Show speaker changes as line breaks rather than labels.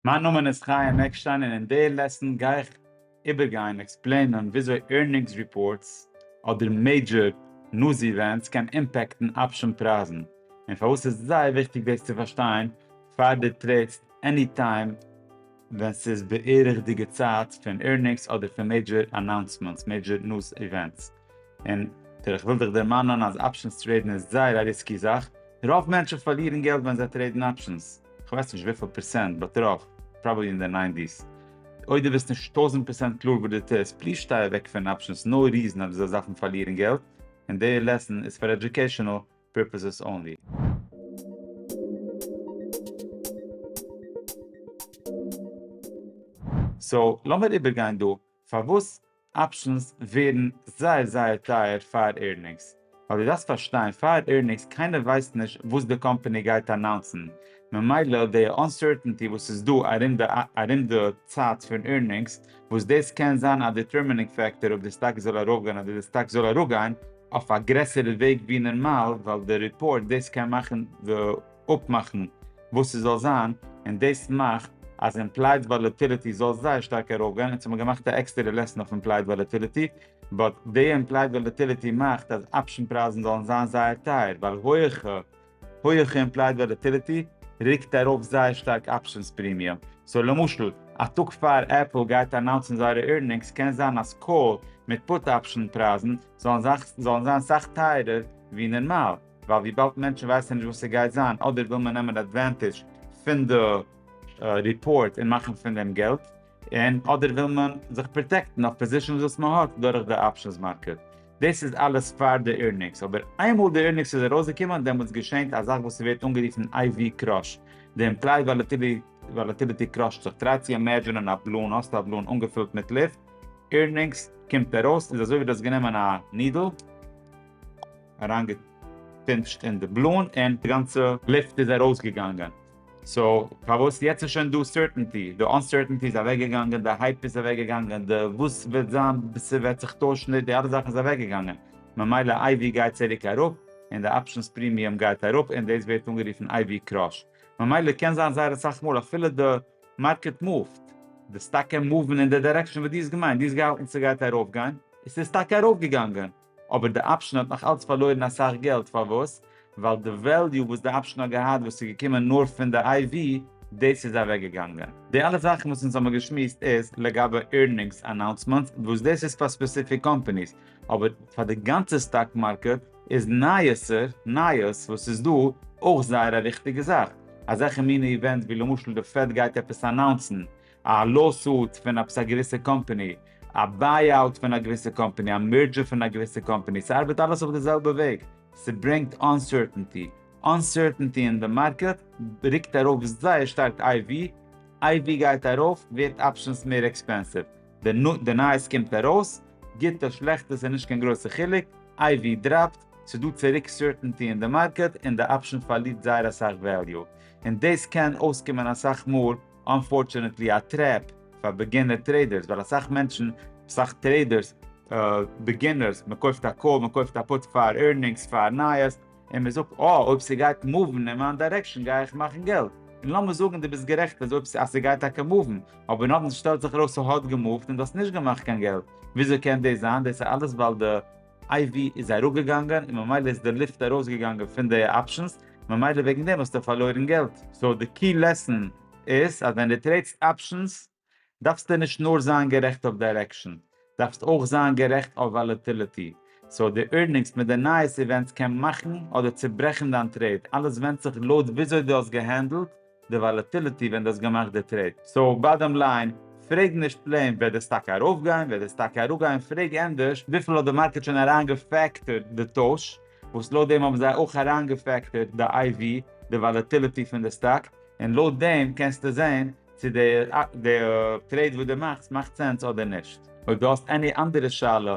מיין נאמען איז חיים עקשטיין און אין די לעסן גיי איך איבערגיין, עקספלעינען, וויאזוי ערנינגס ריפארטס אדער מעידזשער נוז איווענטס קען אימפעקטן אפשען פרייזן און פארוואס ס'איז זייער וויכטיג דאס צו פארשטיין פאר דו טרעידסט עני טיים ווען ס'איז בערך די געצייט פון ערנינגס אדער פון מעידזשער אנאונסמענטס, מעידזשער נוז איווענטס. און טא איך וויל דיך דערמאנען אז אפשענס טרעידן איז זייער א ריסקי זאך, רוב מענטשן פארלירן געלט ווען זיי טרעידן אפשענס, כ'ווייס נישט וויפיל פערסענט, באט רוב, פראבעלי אין די ניינטיס. אויב דו ביסט נישט טויזנט פערסענט קלאר וואס דו טוסט, פליז שטיי אוועק פון אפשענס, נאו ריזען אז דו זאלסט דארפן פארלירן געלט, און די לעסען איז פאר עדיוקעישענעל פירפעסעס אנלי. סאו לאמיר איבערגיין דא פארוואס אפשענס ווערן זייער זייער טייער פאר עירנינגס, ווייל דו דארפסט פארשטיין פאר עירנינגס קיינער ווייסט נישט וואס די קאמפעני גייט אנאונסן, ממילא די אנסערטענטי וואס איז דא ארום די ארום די צייט פון עירנינגס, וואס דאס קען זיין א דיטערמינינג פעקטאר אויב די סטאק זאל ארויפגיין אדער די סטאק זאל אראפגיין, אויף א גרעסערע וועג ווי נארמאל, ווייל די ריפארט דאס קען מאכן די אפמאכן וואס ס'זאל זיין, און דאס מאכט אז אימפלייד וואלעטיליטי זאל זייער שטארק ארויפגיין, אונז האבן געמאכט א עקסטערע לעסן אויף אימפלייד וואלעטיליטי, באט די אימפלייד וואלעטיליטי מאכט אז אפשן פרייזן זאלן זיין זייער טייער, ווייל הויעכע הויעכע אימפלייד וואלעטיליטי רוקט ארויף זייער שטארק אפשענס פרימיום, סאו למשל א טאג פאר עפל גייט אנאונסן זייערע עירנינגס קען זיין אז קאל מיט פוט אפשן פרייזן זאלן זיין סאך טייערער ווי נערמאל. ווייל וויבאלד מענטשן ווייסן נישט וואס ס'גייט זיין, אדער וויל מען נעמען עדווענטידזש פון די ריפארט און מאכן פון דעם געלט, און אדער וויל מען זיך פראטעקטן אויף פאזישאנס וואס מען האט דורך די אפשענס מארקעט. דאס איז אלעס פאר די עירנינגס, אבער איינמאל די עירנינגס איז ארויסגעקומען דעמאלטס געשענט א זאך וואס ס'ווערט אנגערופן IV קראש, די אימפליי וואלאטיליטי קראשט זיך, טריי צו אימעדזשענען א באלון, האסט א באלון אנגעפילט מיט לופט, עירנינגס קומט ארויס איז אזוי ווי דו האסט גענומען א נידל, אריינגעפימפשט אין די בלון און די גאנצע לופט איז ארויסגעגאנגען. סאו פארוואס יעצט איז שוין דא סערטענטי? די אנסערטענטי איז אוועקגעגאנגען, די הייפ איז אוועקגעגאנגען, די וואס וועט זיין, ס'וועט זיך טוישן, די אלע זאכן איז אוועקגעגאנגען, ממילא איי ווי גייט צוריק אראפ, און די אפשענס פרימיום גייט אראפ, און דאס ווערט אנגערופן איי ווי קראש. ממילא קען זיין זייער אסאך מאל אפילו די מארקעט מופט, די סטאק קען מופן אין די דירעקשאן וואס דו האסט געמיינט, דו האסט געהאלטן ס'גייט ארויפגיין, עס איז טאקע ארויפגעגאנגען, אבער די אפשען האט נאך אלץ פארלוירן אסאך געלט, פארוואס? ווייל די וועליו וואס די אפשען האט געהאט וואס איז געקומען נאר פון די איי ווי, דאס איז אוועק געגאנגען. די אלע זאכן וואס אונז האבן געשמועסט איז לגבי עירנינגס אנאונסמענטס וואס דאס איז פאר ספעסיפיק קאמפאניס, אבער פאר די גאנצע סטאק מארקעט איז נייעסער, נייעס וואס איז דא, אויך זייער א וויכטיגע זאך. אזעלכע מיני איווענטס ווי למשל די פעד גייט עפעס אנאונסן, א לאו-סוט פון עפעס א געוויסע קאמפאני, א ביי-אוט פון א געוויסע קאמפאני, א מערדזשער פון א געוויסע קאמפאני, ס'ארבעט אלעס אויף די זעלבע וועג, ס'ברענגט אנסערטענטי, אנסערטענטי אין די מארקעט רוקט ארויף זייער שטארק איי ווי, איי ווי גייט ארויף ווערט אפשענס מער עקספענסיוו, די נייעס קומט ארויס, גוטע שלעכטע ס'איז נישט קיין גרויסע חילוק, איי ווי דראפט, ס'איז דא צוריק סערטענטי אין די מארקעט און די אפשען פארלירט זייער אסאך וועליו, און דאס קען אויסקומען אסאך מאל. אנפארטשענעטלי א טרעפ פאר בעגינער טרעידערס ווייל אסאך מענטשן, אסאך טרעידערס, בעגינערס, מען קויפט א קאל, מען קויפט א פוט פאר ערנינגס, פאר נייעס, און מען זאגט אה אויב ס'גייט מאוון אין מיין דירעקשאן גיי איך מאכן געלט, און לאמיר זאגן דו ביסט גערעכט אז אויב אז ס'גייט טאקע מאוון, אבער נאכדעם שטעלט זיך ארויס ס'האט געמאווט און דו האסט נישט געמאכט קיין געלט, וויאזוי קען דאס זיין? דאס איז אלעס ווייל די. IV איז אראפגעגאנגען און ממילא איז די לופט ארויסגעגאנגען פון די אפשענס, ממילא וועגן דעם האסטו פארלוירן געלט. סאו די קי לעסן איז אז ווען די טרעידסט אפשענס דארפסטו נישט נאר זיין גערעכט אויף דיירעקשאן, דארפסט אויך זיין גערעכט אויף וואלעטיליטי. סאו די ערנינגס מיט די נייעס איווענטס קען מאכן אדער צוברעכן דיין טרעיד, אלעס ווענדט זיך לויט וויאזוי דו האסט געהענדלט, די וואלעטיליטי ווען דו האסט געמאכט די טרעיד. סאו באדאם ליין, פרעג נישט פלעין וועט דאס טאקע ארויפגיין, וועט דאס טאקע אראפגיין, פרעג ענדערש וויפיל האט די מארקעט שוין אריינגעפעקטערט די טויש, וואס לויט דעם האבן זיי אויך אריינגעפעקטערט די איי ווי, די וואלעטיליטי פון די סטאק, און לויט דעם קענסטו זען צו די טרעיד וואס דו מאכסט מאכט סענס אדער נישט. אויב דו האסט עני אנדערע שאלה